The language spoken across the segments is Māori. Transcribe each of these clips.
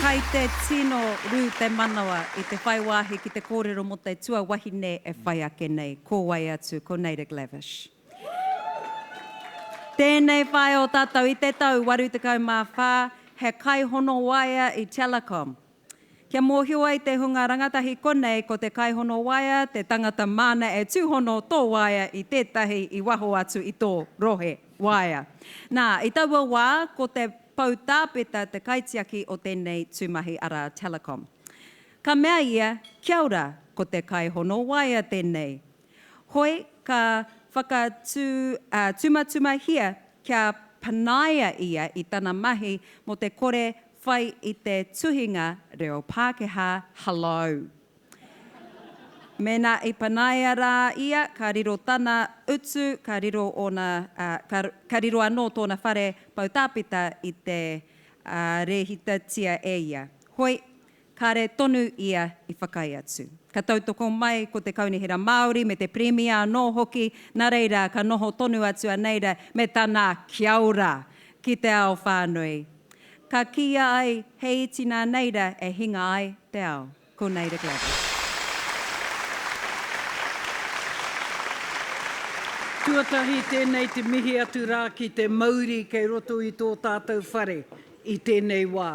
Kai te tino rū te manawa i te whai wāhi ki te kōrero mō te tuawahine e whai ake nei, ko wai atu ko Naida Glavish. Tēnei whaea o tātou i te tau 84, he kaihono waea i Telecom, Kia mōhio ai te hunga rangatahi konei ko te kaihono waea te tangata māna e tūhono tō waea i tētahi i waho atu i tō rohe waea. Nā, i taua wā, ko te poutāpeta te kaitiaki o tēnei tūmahi arā Telecom. Ka mea ia, Kia ora, ko te kaihono waea tēnei. Hoi, ka whakatū, ā, tumatumahia kia panaia ia i tana mahi mō te kore Whai i te tuhinga reo Pākehā, Hello! Mēnā i panaia rā ia, ka riro tana utu, ka riro ōna, ka, ka riro anō tōna whare poutāpeta i te, ā, rēhitatia e ia. Hoi, Kāre tonu ia i whakaae atu. Ka tautoko mai ko te Kaunihera Māori me te Pirimia anō hoki, nā reira ka noho tonu atu a Neira me tana kia ora ki te ao whānui. Ka kīia ai he iti nā Neira e hinga ai te ao. Ko Neira Gladys. Tuatahi tēnei te mihi atu rā ki te mauri kei roto i tō tātou whare i tēnei wā.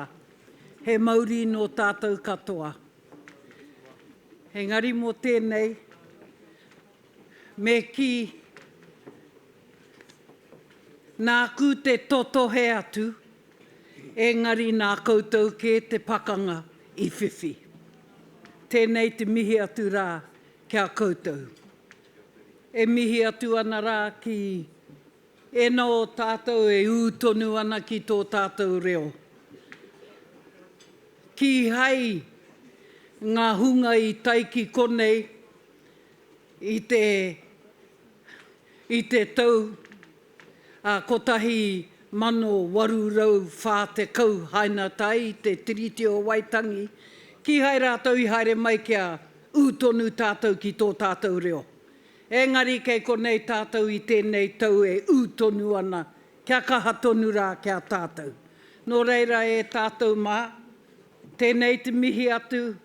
He mauri nō tātou katoa. Engari mō tēnei, me kī, nāku te totohe atu, engari nā koutou kē te pakanga i whiwhi. Tēnei te mihi atu rā ki a koutou. E mihi atu ana rā ki. E nō tātou e ū tonu ana ki tō tātou reo. Kīhai ngā hunga i tae ki konei i te i te tau a 1840 haina tae i te Tiriti o Waitangi, kīhai rātou i haere mai kia ū tonu tātou ki tō tātou reo. Engari kei konei tātou i tēnei tau e ū tonu ana, kia kaha tonu rā ki a tātou. Nō reira e tātou mā, tēnei te mihi atu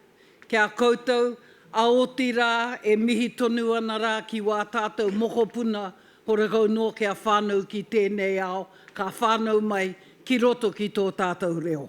ki a koutou, a otirā e mihi tonu ana rā ki wā tātou mokopuna horekau noa kia whānau ki tēnei ao, ka whānau mai ki roto ki tō tātou reo.